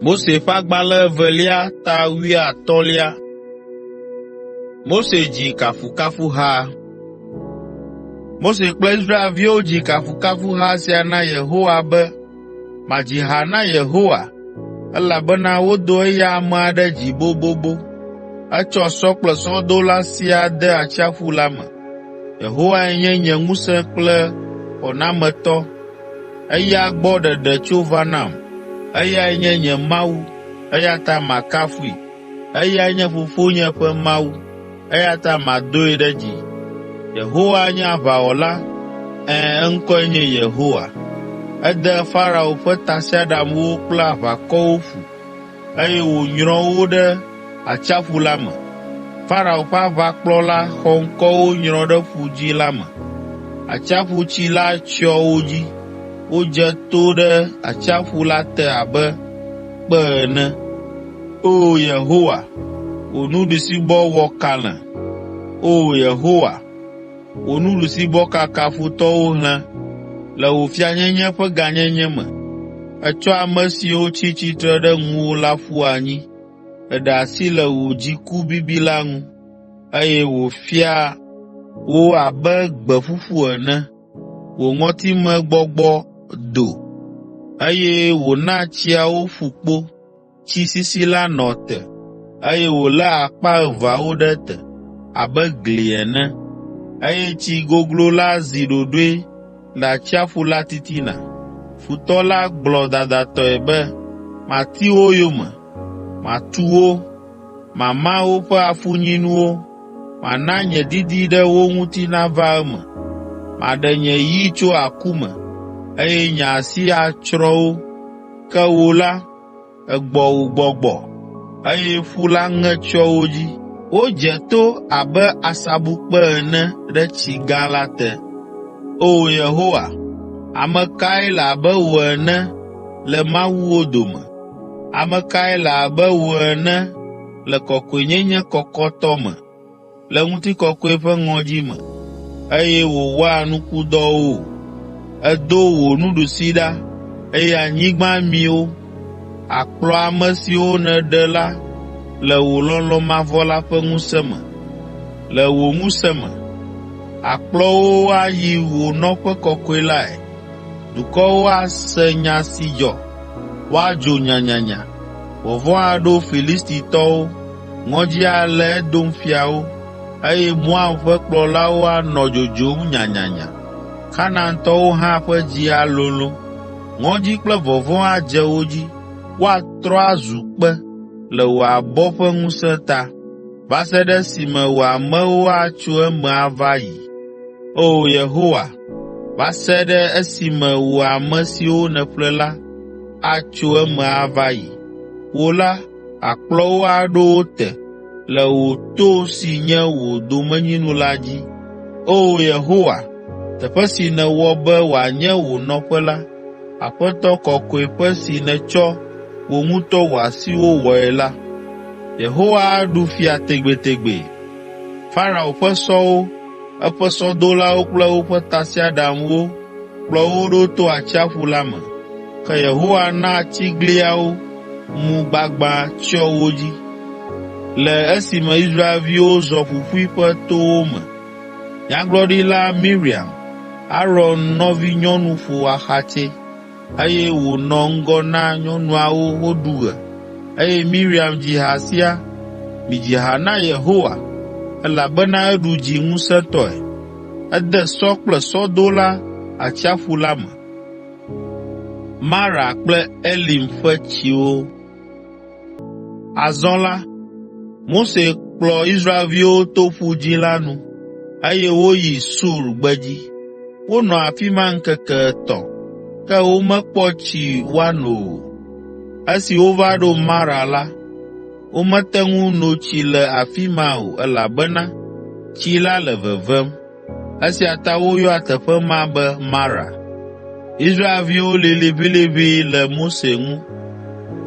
Mose ƒe agbalẽ evelia ta wuiatɔ̃lia. Mose dzi kafukafuha. Mose kple Israelviwo dzi kafukafuha sia na Yehowa be, “Madzi ha na Yehowa, elabena wodo eya amea ɖe dzi bobobo. Etsɔ sɔ kple sɔdola siaa de atsiaƒu la me. Yehowae nye nye ŋusẽ kple xɔnametɔ. Eya gbɔ ɖeɖe tso va nam, eyae nye nye Mawu, eya ta makafui. Eyae nye fofonye ƒe Mawu, eya ta madoe ɖe dzi. Yehowa nye aʋawɔla, ɛ̃, eŋkɔe nye Yehowa. Ede Farao ƒe tasiaɖamwo kple aʋakɔwo ƒu. eye wònyrɔ wo ɖe atsiaƒu la me. Farao ƒe aʋakplɔla xɔŋkɔwo nyrɔ ɖe Ƒu Dzĩ la me. Atsiaƒutsi la tsyɔ wo dzi, wodze to ɖe atsiaƒu la te abe kpe ene. Oo Yehowa, wò nuɖusibɔ wɔ kalẽ. Oo Yehowa. Wò nuɖusibɔ kaka futɔwo hlẽ le wò fianyenye ƒe gãnyenye me. Ètsɔ ame siwo tsi tsitre ɖe ŋuwò la ƒu anyi. Èɖe asi le wò dziku bibi la ŋu, eye wòfia wo abe gbe ƒuƒu ene. Wò ŋɔtimegbɔgbɔ do, eye wòna tsiawo ƒu kpo. tsi sisi la nɔ te, eye wòlé akpa eveawo ɖe te abe gli ene, eye tsi goglo la zi ɖoɖoe le atsiaƒu la titina. Futɔ la gblɔ dadatɔe be, Mati wo yome, matu wo, mama woƒe afunyinuwo, mana nye didi ɖe wo ŋuti nava eme. Maɖe nye yi tso aku me, eye nye asi atsrɔ̃ wo. Ke wò la, egbɔ wògbɔgbɔ, eye ƒu la ŋe tsyɔ wo dzi. Wodze to abe asabukpe ene ɖe tsi gã la te. Oo Yehowa, ame kae le abe wò ene le mawuwo dome? Ame kae le abe wò ene le kɔkɔenyenye kɔkɔtɔ me? le ŋutikɔkɔe ƒe ŋɔdzi me, eye wòwɔa nukudɔwo. Èdo wò nuɖusi ɖa, eye anyigba mi wo. Àkplɔ ame siwo nèɖe la le wò lɔlɔ̃ mavɔ la ƒe ŋusẽ me, le wò ŋusẽ me. Àkplɔ wo ayi wò nɔƒe kɔkɔe lae. Dukɔwo ase nya si dzɔ, woadzo nyanyanya, vɔvɔ̃ aɖo Filistitɔwo, Ŋɔdzi alé Edom fiawo, eye Moab ƒe kplɔlawo anɔ dzodzom nyanyanya. Kanaantɔwo hã ƒe dzi alolõ. Ŋɔdzi kple vɔvɔ̃ adze wo dzi, woatrɔ azu kpe le wò abɔ ƒe ŋusẽ ta, va se ɖe esime wò amewo atso eme ava yi. Oo Yehowa, va se ɖe esime wò ame siwo nèƒle la atso eme ava yi. Wò la, Àkplɔ wo aɖo wo te le wò to si nye wò domenyinu la dzi. Oo Yehowa, teƒe si nèwɔ be wòanye wò nɔƒe la, Aƒetɔ Kɔkɔeƒe si nètsɔ wò ŋutɔ wò asiwo wɔe la, Yehowa aɖu fia tegbetegbe. Farao ƒe sɔwo eƒe sɔdolawo kple woƒe tasiaɖamwo kplɔ wo ɖo to atsiaƒu la me. Ke Yehowa na tsigliawo mu gbagbã tsyɔ wo dzi, le esime Israelviwo zɔ ƒuƒui ƒe towo me. Nyagblɔɖila Miriam, Aron nɔvinyɔnu ƒo axatsɛ. eye wònɔ ŋgɔ na nyɔnuawo woɖu ɣe. Eye Miriam dzi ha sia, “Midzi ha na Yehowa, elabena eɖu dzi ŋusẽtɔe, ede sɔ kple sɔdola atsiaƒu la me.” Mara kple Elim ƒe tsiwo Azɔ la, Mose kplɔ Israelviwo to Ƒu Dzĩ la nu, eye woyi Sur gbedzi. Wonɔ afi ma ŋkeke etɔ̃, ke womekpɔ tsi woano o. Esi wova ɖo Mara la, womete ŋu no tsi le afi ma o elabena tsi la le vevem. Esia ta woyɔa teƒe ma be Mara. Israelviwo lĩ liʋĩliʋĩ le Mose ŋu.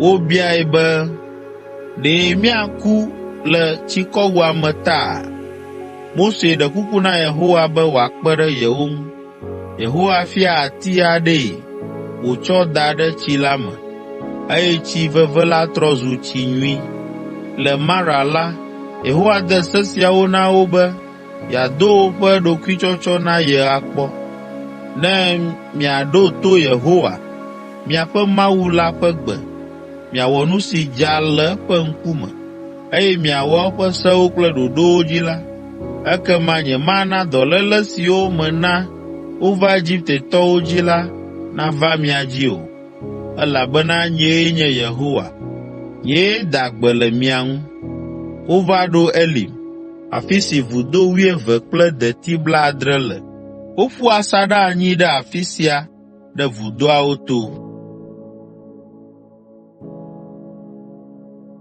Wobiae be, “Ɖe míaku le tsikɔwua me taa?” Mose ɖe kuku na Yehowa be wòakpe ɖe yewo ŋu. Yehowa fia ati aɖee wòtsɔ da ɖe tsi la me, eye tsi veve la trɔ zu tsi nyui. Le Mara la, Yehowa de se siawo na wo be, yeado woƒe ɖokuitsɔtsɔ na ye akpɔ, ne miaɖo to Yehowa, miaƒe Mawu la ƒe gbe, miawɔ nu si dza le eƒe ŋkume, eye miawɔ eƒe sewo kple ɖoɖowo dzi la, ekema nyemana dɔléle siwo mena wova Egiptetɔwo dzi la nava mia dzi o, elabena nyee nye Yehowa, nyee da gbe le mia ŋu.” afi si vudo wuieve kple deti blaadre le. Woƒu asaɖa anyi ɖe afi sia ɖe vudoawo to.